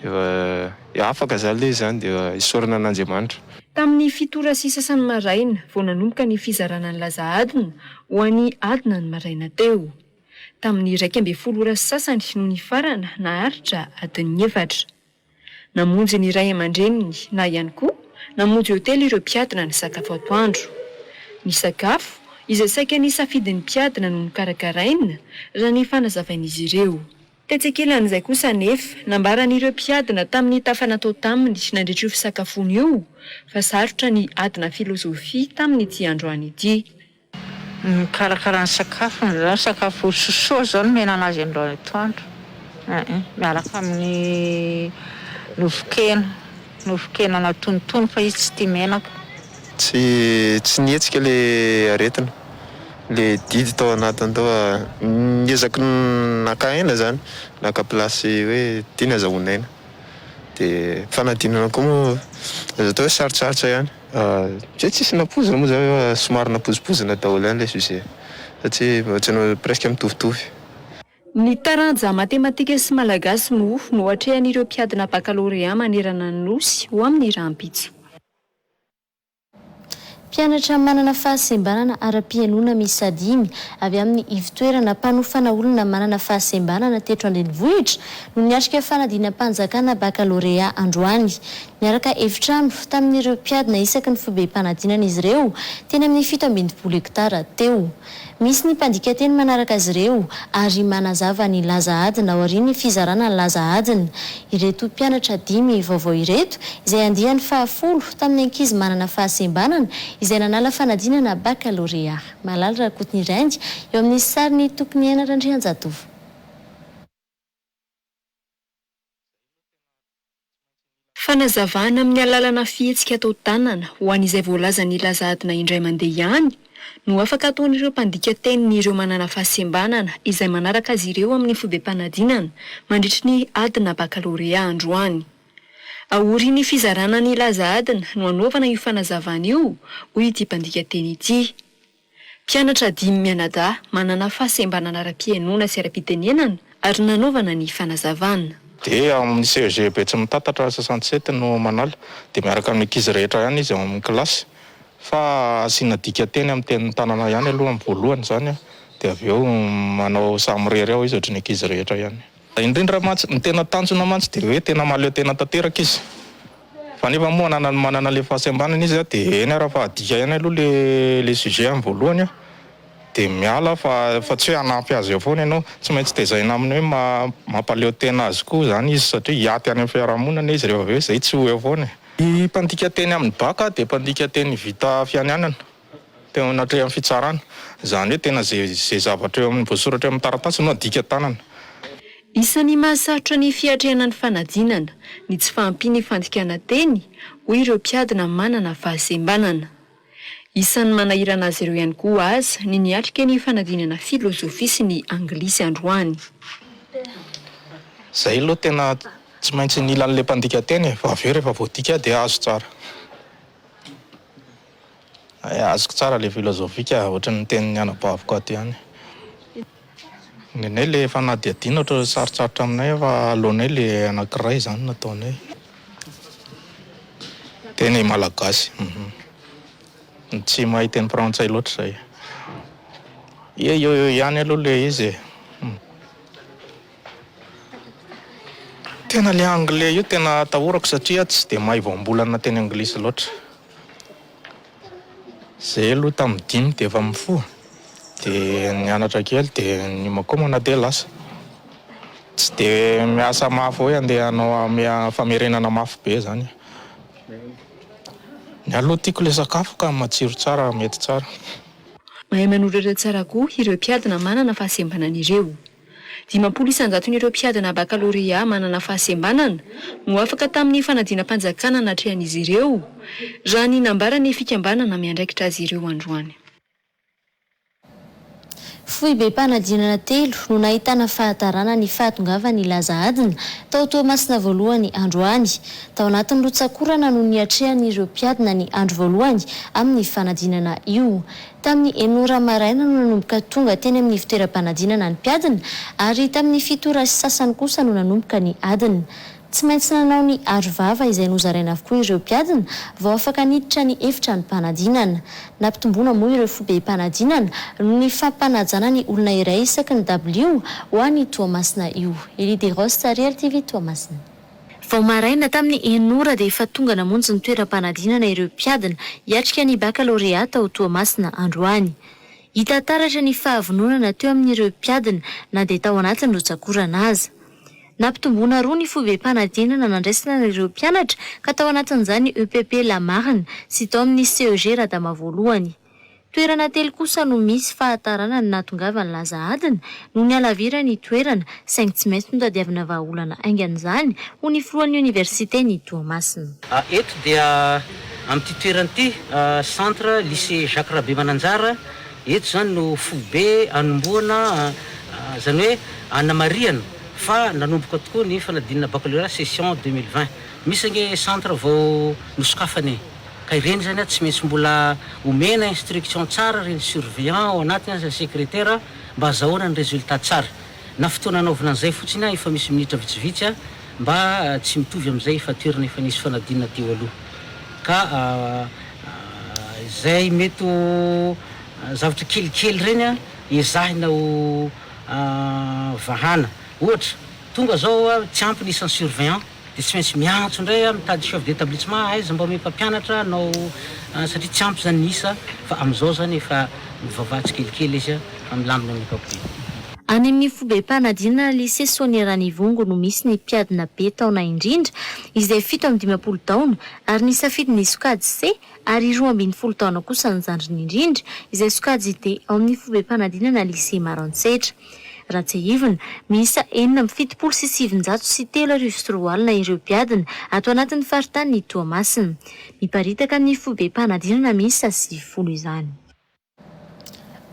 Dia afaka izany ilay izy izany dia isaorana an'Andriamanitra. Tamin'ny fito ora sy sasany maraina vao nanomboka ny fizarana ny laza adina ho an'ny adina ny maraina teo. Tamin'ny iraika ambin'ny folo ora sy sasany no nifarana naharitra adin'ny efatra. Namonjy ny ray aman-dreniny na ihany koa namonjy hotely ireo mpiadina nisakafo atoandro. Ny sakafo izay saika nisafidin'ny mpiadina no nokarakaraina, raha ny fanazavain'izy ireo. Tetsy ankilan'izay kosa anefa, nambaran'ireo mpiadina tamin'ny tafa natao taminy nandritra io fisakafoana io fa sarotra ny adina filozofia tamin'ity androany ity. Mikarakara ny sakafony izany, sakafo sosoa izao no omena an'azy androany atoandro, miaraka amin'ny nofon-kena. Nofon-kena natonotony fa izy tsy tia menaka. Tsy tsy nihetsika le aretina, le didy tao anatiny tao fa niezaka naka aina zany, naka place hoe tiany azahoany aina de fanadinana koa moa azo atao hoe sarotsarotra ihany. Zay tsisy nampoizina moa zany fa somary nampoizimpoizina daholo ihany le sujet satria ohatran'ny presque mitovitovy. Ny taranja matematika sy malagasy moa no atrehan'ireo mpiadina bakalorea manerana ny Nosy ho amin'ny rahampitso. Mpianatra manana fahasembanana ara-pihainoana miisa dimy avy amin'ny ivontoerana mpanofana olona manana fahasembanana teto an-drenivohitra no niatrika fanadinam-panjakana bakalorea androany. Niaraka efitrano tamin'ireo mpiadina isaky ny foibem-panadinana izy ireo teny amin'ny fito ambin'ny folo hektara teo. Misy ny mpandika teny manaraka azy ireo ary manazava ny laza adina aorian'ny fizarana ny laza adina. Ireto mpianatra dimy vaovao ireto, izay andiany fahafolo tamin'ny ankizy manana fahasembanana, izay nanala fanadinana bakalorea. Malala Rakotoniraindy, eo amin'ny sarin'i Tokoniaina Randrianjatovo. Fanazavana amin'ny alalana fihetsika atao tanana ho an'izay voalazan'i Laza Adina indray mandeha ihany no afaka ataon'ireo mpandika teniny ireo manana fahasembanana izay manaraka azy ireo amin'ny fobem-panadinana mandritry ny adina bakalorea androany. Aorian'ny fizarana ny Laza Adina no anaovana io fanazavana io, hoy ity mpandika teny ity. Mpianatra dimy mianadahy manana fahasembanana ara-pihainoana sy ara-pitenenana ary nanaovana ny fanazavana. Dia ao amin'ny CEG Betsimitatatra soixante sept no manala. Dia miaraka amin'ny ankizy rehetra ihany izy ao amin'ny kilasy. Fa asiana dikanteny amin'ny tenin'ny tanana ihany aloha amin'ny voalohany izany an. Dia avy eo manao samirery ao izy ohatry ny ankizy rehetra ihany. Indrindra mantsy, ny tena tanjona mantsy dia hoe tena mahaleo tena tanteraka izy. Fa nefa moa ananany manana ilay fahasembanana izy dia eny ary fa adika ihany aloha ilay sujet amin'ny voalohany aho dia miala aho fa tsy hoe hanampy azy eo foana ianao. Tsy maintsy tezaina amin'ny hoe mampaleo tena azy koa izany izy satria hiaty any amin'ny fiarahamonina izy rehefa avy eo izay tsy ho eo foana e. Ny mpandika teny amin'ny bacc dia mpandika teny vita fianianana. Teo anatrehan'ny fitsarana. Izany hoe tena izay zavatra eo amin'ny voasoratra eo amin'ny taratasy no adika tanana. Isan'ny mahasarotra ny fiatrehana ny fanadinana ny tsy fahampian'ny fandikana teny hoy ireo mpiadina manana fahasembanana. Isan'ny manahirana azy ireo ihany koa aza ny niatrika ny fanadinana filozofia sy ny anglisy androany. Izay aloha tena tsy maintsy ny ilan'ilay mpandika teny e, fa avy eo rehefa voadika dia azo tsara. Azoko tsara le filozofika ohatran'ny nitenin'ny anabaviko ato ihany. Nenay le fanadihadiana ohatran'ny sarotsarotra aminay fa aloanay le anankiray izany no ataonay. Teny malagasy uhm. Tsy mahay teny frantsay loatra izahay. Eo eo eo ihany aloha le izy e. Tena le anglais io tena atahorako satria tsy dia mahay voambolana teny anglisy loatra. Zay aloha tamin'ny dimy dia efa mifoha, dia nianatra kely dia niomankomana dia lasa. Tsy dia miasa mafy hoe andeha hanao am- famerenana mafy be zany e. Ny ahy aloha tiako le sakafo ka matsiro tsara mety tsara. Mahay manoratra tsara koa ireo mpiadina manana fahasembanana ireo. Dimampolo isan-jaton'ireo mpiadina bakalorea manana fahasembanana no afaka tamin'ny fanadinam-panjakana natrehan'izy ireo, raha ny nambaran'ny fikambanana miandraikitra azy ireo androany. Foibem-panadinana telo no nahitana fahatarana ny fahatongavan'ny laza adina tao Toamasina voalohany androany. Tao anatin'ny rotsak'orana no niatrehan'ireo mpiadina ny andro voalohany amin'ny fanadinana io. Tamin'ny enina ora maraina no nanomboka tonga teny amin'ny fitoeram-panadinana ny mpiadina ary tamin'ny fito ora sy sasany kosa no nanomboka ny adina. Tsy maintsy nanao ny arovava izay nozaraina avokoa ireo mpiadina vao afaka niditra ny efitranom-panadinana. Nampitomboina moa ireo foibem-panadinana noho ny fampanajana ny olona iray isaky ny dabilio ho any Toamasina io. Elie Desroses, Ariary TV, Toamasina. Vao maraina tamin'ny enina ora dia efa tonga namonjy ny toeram-panadinana ireo mpiadina hiatrika ny bakalorea tao Toamasina androany. Hita taratra ny fahavononana teo amin'ireo mpiadina na dia tao anatin'ny rotsak'orana aza. Nampitomboina roa ny foibem-panadinana nandraisana an'ireo mpianatra ka tao anatin'izany ny EPP Lamarina sy tao amin'ny CEG Radama voalohany. Toerana telo kosa no misy fahataranany nahatongavany laza adina no nihalavirany ny toerana saingy tsy maintsy notadiavina vahaolana haingana izany, hoy ny filohan'ny oniversiten'i Toamasina. A Eto dia amin'ity toerana ity, Centre Lycée Jacques Rabemananjara, eto izany no foibe anombohana, izany hoe anamarihana fa nanomboka tokoa ny fanadinana baccalauréat session deux mille vingt. Misy ange centre vao nosokafana e! Ka ireny zany a tsy maintsy mbola omena instruction tsara reny surveillant ao anatiny aza secretaire a mba azahoana ny resultat tsara. Na fotoana anaovana an'izay fotsiny a efa misy minitra vitsivitsy a mba tsy mitovy amin'izay efa toerana efa nisy fanadinana teo aloha. Ka izay mety ho zavatra kelikely reny a ezahina ho vahana. Ohatra, tonga zao a tsy ampy ny isan'ny surveillant. Dia tsy maintsy miantso indray aho mitady chef d'établissement aiza mba omeo mpampianatra hanao an satria tsy ampy izany ny isa fa amin'izao izany efa mivavaha tsikelikely izy fa milamina ny ankapobeny. Any amin'ny fobem-panadinana Lycée Sonia Ranivongo no misy ny mpiadina be taona indrindra izay fito amby dimampolo taona ary ny safidy ny sokajy C ary roa ambin'ny folo taona kosa ny zandriny indrindra izay sokajy D ao amin'ny fobem-panadinana Lycée Maroantsetra. Raha tsiahivina, miisa enina amby fitopolo sy sivinjato sy telo arivo sy roa alina ireo mpiadina ato anatin'ny faritanin'i Toamasina. Miparitaka amin'ny foibem-panadinana miisa sivifolo izany.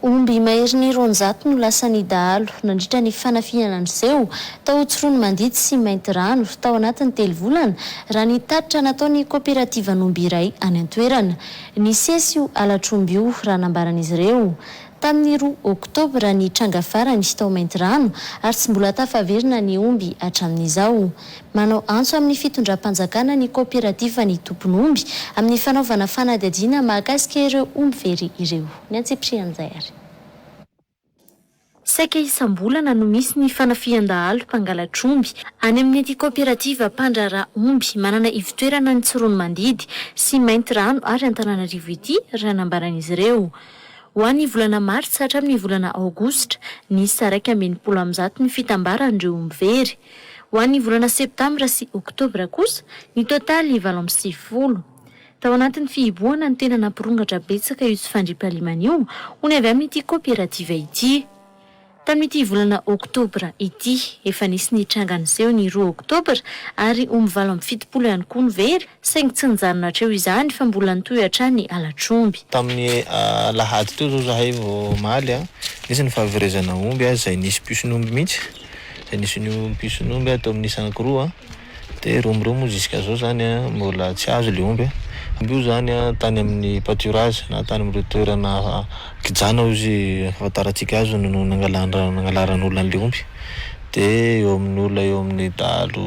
Omby maherin'ny roanjato no lasan'ny dahalo nandritra ny fanafihana niseho tao Tsiroanomandidy sy Maintirano tao anatin'ny telo volana, raha ny tatitra nataon'ny kaoperativan'omby iray any an-toerana. Nisesy io halatr'omby io, raha nambaran'izy ireo. Tamin'ny roa Oktobra ny tranga farany tao Maintirano ary tsy mbola tafaverina ny omby hatramin'izao. Manao antso amin'ny fitondram-panjakana ny kaoperativan'ny tompon'omby amin'ny fanaovana fanadihadiana mahakasika ireo omby very ireo. Ny antsipirihan'izay ary. Saika isam-bolana no misy ny fanafihan-dahalo mpangalatr'omby any amin'ity kaoperativa mpandraharaha omby manana ivotoerana any Tsiroanomandidy sy Maintirano ary Antananarivo ity, raha nambaran'izy ireo. Ho an'ny volana martsa hatramin'ny volana aogositra, niisa iraika amby enimpolo amin'ny zato ny fitambaran'ireo mpivery. Ho an'ny volana septambra sy oktobra kosa, ny totaly valo amby sivifolo. Tao anatin'ny fihibohana no tena nampirongatra betsaka io tsy fandriampahalemana io, ho ny avy amin'ity kaoperativa ity. Tamin'ity volana oktobra ity. Efa nisy nitranga niseho ny roa oktobra ary omy valo amby fitopolo ihany koa ny very saingy tsy nijanona hatreo izany fa mbola nitohy hatrany alatromby. Tamin'ny alahady teo izao izahay vao omaly an, nisy ny fahaverezana omby izay nisy mpison'omby mihitsy, izay nisy ny mpison'omby tao amin'ny Sankoroa Dia ireo mireo moa jusqu'à zao zany mbola tsy azo le omby a! Omby io zany tany amin'ny pâturage na tany amin'ireo toerana kijana hoy izy ahafantarantsika azy no nangalan-dra- nangalaran'olona an'le omby. De eo amin'ny olona eo amin'ny dahalo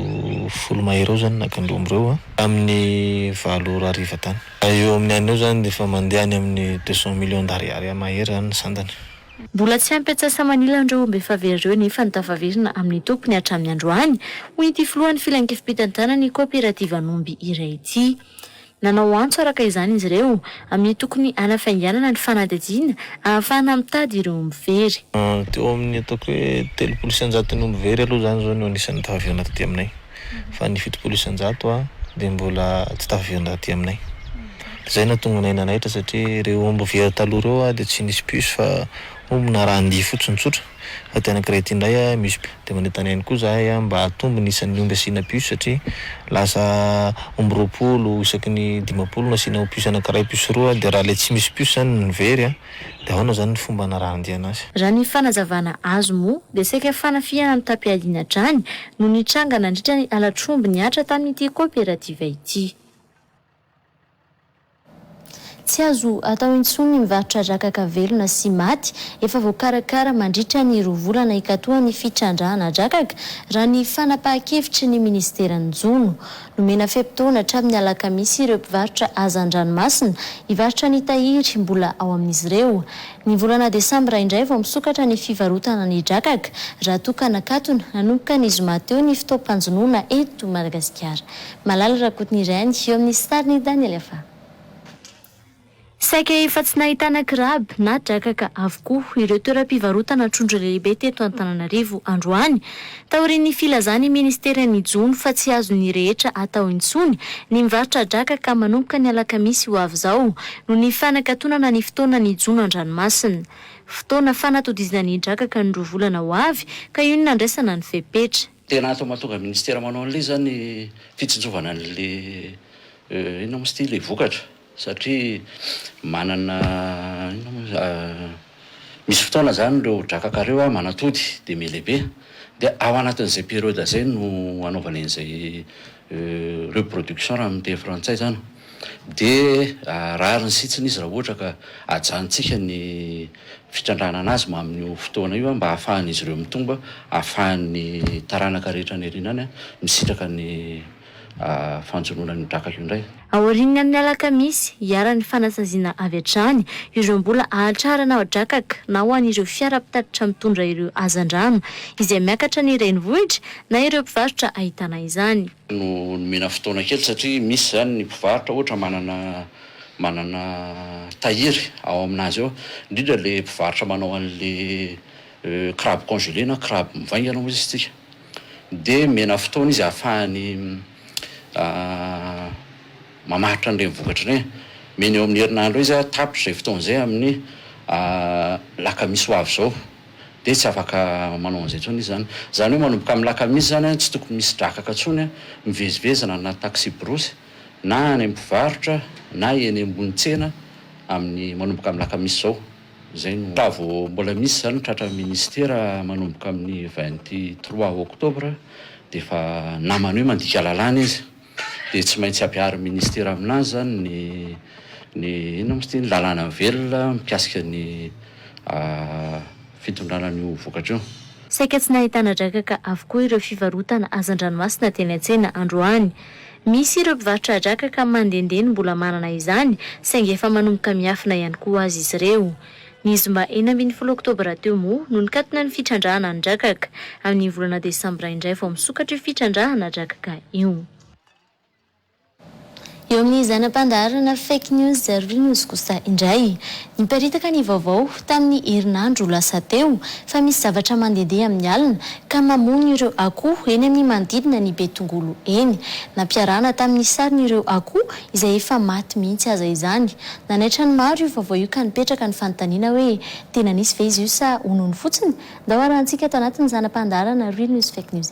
folo mahery eo zany naka an'ireo omby ireo a! Tamin'ny valo ora hariva tany. Eo amin'ny an'ny eo zany dia efa mandeha any amin'ny deux cent millions d'ariary mahery zany ny sandany. Mbola tsy ampy an-tsasa-manilany ireo omby efa very ireo nefa ny tafaverina amin'ny tompony hatramin'ny androany, hoy ity filohan'ny filankevi-pitantanan'ny koperativan'omby iray ity. Nanao antso araka izany izy ireo amin'ny tokony hanafainganana ny fanadihadiana ahafahana mitady ireo omby very. Teo amin'ny ataoko hoe telopolo isan-jaton'ny omby very aloha izany izao no anisan'ny tafaverina taty aminay. fa ny fitopolo isan-jato a dia mbola tsy tafavondro aty aminay. Dia izay no nahatonga anay nanaitra satria ireo omby very taloha ireo a dia tsy nisy puce fa omby narahan-dia fotsiny tsotra. Fa ity anankiray ity indray a misy puce. Dia manentana ihany koa izahay a mba hatombo ny isan'ny omby asiana puce satria lasa omby roapolo isaky ny dimampolo no asiana puce anankiray puce roa dia raha ilay tsy misy puce izany no very a. De ahoana izany ny fomba anarahan-diana azy? Raha ny fanazavana azo moa dia saika fanafihana ny tapi-alina drany no nitranga nandritra ny halatr'omby nihatra tamin'ity kaoperativa ity. Tsy azo atao intsony ny mivarotra drakaka velona sy maty efa voakarakara mandritra ny roa volana hikatoa ny fitrandrahana drakaka, raha ny fanapahan-kevitry ny minisiteran'ny jono. Nomena fe-potoana hatramin'ny alakamisy ireo mpivarotra haza an-dranomasina hivarotra ny tahiry mbola ao amin'izy ireo. Ny volana desambra indray vao misokatra ny fivarotana ny drakaka raha toa ka nakatona nanomboka ny zoma teo ny fotoam-panjonoana eto Madagasikara. Malala Rakotonireny eo amin'ny sarin'i Daniel Afa. Saika efa tsy nahitana kirab na drakaka avokoa ireo toeram-pivarotana trondro lehibe teto Antananarivo androany, taorian'ny filazan'ny Ministeran' ny Jono fa tsy azon'ny rehetra atao intsony ny mivarotra drakaka manomboka ny alakamisy ho avy izao noho ny fanakatonana ny fotoanan'ny jono an-dranomasina. Fotoana fanatodizana ny drakaka ny roa volana ho avy ka io no nandraisana ny fepetra. Tena atao mahatonga Ministera manao an'ilay izany fitsinjovana an'ilay inona moa izy ity? ilay vokatra. Satria manana inona moa izy ah, misy fotoana izany ireo drakaka ireo ah manatody dia mihelehibe dia ao anatin'izay période izay no anaovany an'izay reproduction raha amin'ny teny frantsay izany dia rariny sitsiny izy raha ohatra ka ajanontsika ny fitrandrahana an'azy mamin'io fotoana io mba ahafahan'izy ireo mitombo, ahafahan'ny taranaka rehetra any aoriana any misitraka ny. fanjonoana ny drakaka io indray. Aorian'ny amin'ny alakamisy, hiharan'ny fanasaziana avy hatrany ireo mbola hahatrarana drakaka na ho an'ireo fiara mpitatitra mitondra ireo hazandrano izay miakatra ny renivohitra na ireo mpivarotra ahitana izany. no nomena fotoana kely satria misy izany ny mpivarotra ohatra manana manana tahiry ao aminazy ao, indrindra ilay mpivarotra manao an'ilay crabe congelé na crabe mivaingana moa izy isika. dia omena fotoana izy ahafahany mamaritra an'ireny vokatra ireny. Omena eo amin'ny herinandro eo izy tapitra izay fotoana izay amin'ny lakamisy ho avy izao dia tsy afaka manao an'izay intsony izy izany. Izany hoe manomboka amin'ny lakamisy izany tsy tokony misy drakaka intsony mivezivezy na anaty taksiborosy na any amin'ny mpivarotra na eny ambony tsena amin'ny manomboka amin'ny lakamisy izao. Izay no raha vao mbola misy izany ny tratran'ny minisitera manomboka amin'ny vingt trois octobre dia efa namany hoe mandika lalàna izy dia tsy maintsy ampiharin'ny minisitera aminazy izany ny ny inona moa izy ity? ny lalàna velona mikasika ny fitondrana an'io vokatra io. Saika tsy nahitana drakaka avokoa ireo fivarotana hazandranomasina teny an-tsena androany. Misy ireo mpivarotra drakaka mandehandeha no mbola manana izany, saingy efa manomboka miafina ihany koa aza izy ireo. Ny zoma enina ambin'ny folo oktobra teo moa no nikatona ny fitrandrahana ny drakaka. Amin'ny volana desambra indray vao misokatra io fitrandrahana drakaka io. Eo amin'ny zana-pandaharana Fake News Zero News kosa indray, Niparitaka ny vaovao, tamin'ny herinandro lasa teo, fa misy zavatra mandehandeha amin'ny alina, ka mamono ireo akoho eny amin'ny manodidina ny Betongolo eny. Nampiarahana tamin'ny sariny ireo akoho izay efa maty mihitsy aza izany. Nanaitra ny maro io vaovao io ka nipetraka ny fanontaniana hoe, tena nisy ve izy io sa honono fotsiny? Ndao harahantsika ato anatin'ny zana-pandaharana Real News Fake News.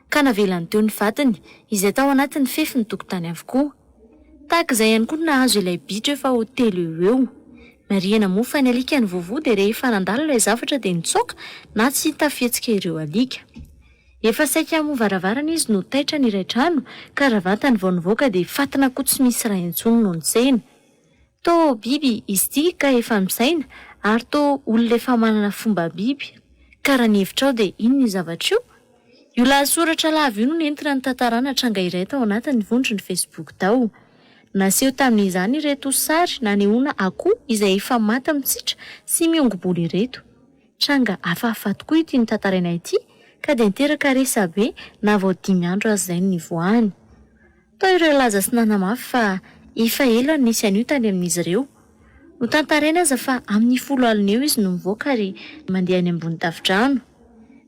ka navelany teo ny vadiny izay tao anatin'ny fefy ny tokotany avokoa. Tahaka izay ihany koa no nahazo ilay bitro efa ho telo eo ho eo. Marihina moa fa ny alika nivovo dia rehefa nandalo ilay zavatra dia nitsoaka na tsy hita fihetsika ireo alika. Efa saika hamoha varavarana izy no taitra ny iray trano ka raha vantany vao nivoaka dia fatina koa tsy misy raha intsony no nitsena. Toa biby izy ity ka efa misaina ary toa olona efa manana fomba biby ka raha ny hevitrao dia inona io zavatra io? Io lahatsoratra lava io no nentina nitantarana tranga iray tao anatin'ny vondron'ny Facebook tao. Naseho tamin'izany ireto sary nanehoana akoho izay efa maty mitsitra sy miongo-bolo ireto. Tranga hafahafa tokoa ity notantaraina ity ka dia niteraka resabe na vao dimy andro aza izay no nivoahany. Tao ireo nilaza sy nanamafy fa efa ela no nisy an'io tany amin'izy ireo. Notantarina aza fa amin'ny folo alina eo izy no nivoaka ary mandeha any ambony tafodrano.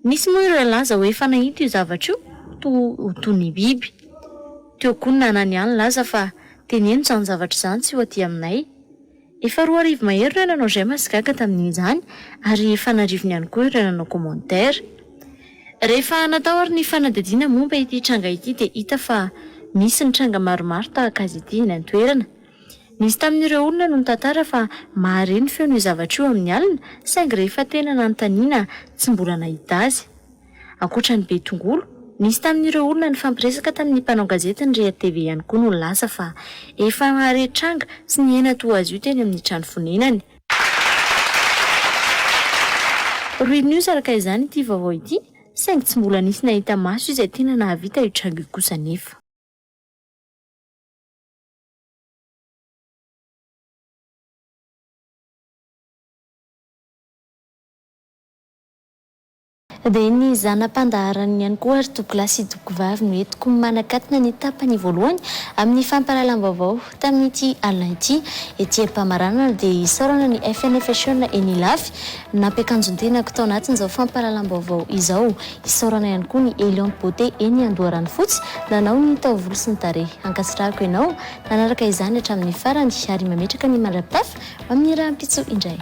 Nisy moa ireo nilaza ho efa nahita io zavatra io toa ho toy ny biby. Teo koa ny nanana ihany nilaza fa teneno izany zavatra izany tsy ho aty aminay. Efa roa arivo mahery ireo nanao j'aime sy gaga tamin'izany ary efa an'arivony ihany koa ireo nanao commentaire. Rehefa natao ary ny fanadihadiana momba ity tranga ity dia hita fa misy ny tranga maromaro tahaka azy ity eny an-toerana. Nisy tamin'ireo olona no nitantara fa mahare ny feon'io zavatra io amin'ny alina saingy rehefa tena nanontaniana tsy mbola nahita azy. Ankoatra ny be tongolo, nisy tamin'ireo olona nifampiresaka tamin'ny mpanao gazety ny Ria TV ihany koa no nilaza fa efa nahare tranga sy nihena toa azy io teny amin'ny trano fonenany. Ruinnews araka izany ity vaovao ity saingy tsy mbola nisy nahita maso izay tena nahavita io tranga io kosa anefa. Dia ny zana-pandaharany ihany koa ry Dokola sy Dokovavy no entiko manakatona ny tapany voalohany amin'ny fampahalalam-baovao tamin'ity alina ity. Ety am-pamaranana dia isaorana ny FNFHN eny Ilafy nampiakanjon-tenako tao anatin'izao fampahalalam-baovao izao. Isaorana ihany koa ny Eliante Beauté eny Andoharanofotsy nanao ny taovolo sy ny tarehy. Ankasitrahako ianao nanaraka izany hatramin'ny farany ary mametraka ny mandra-pitafa amin'ny rahampitso indray.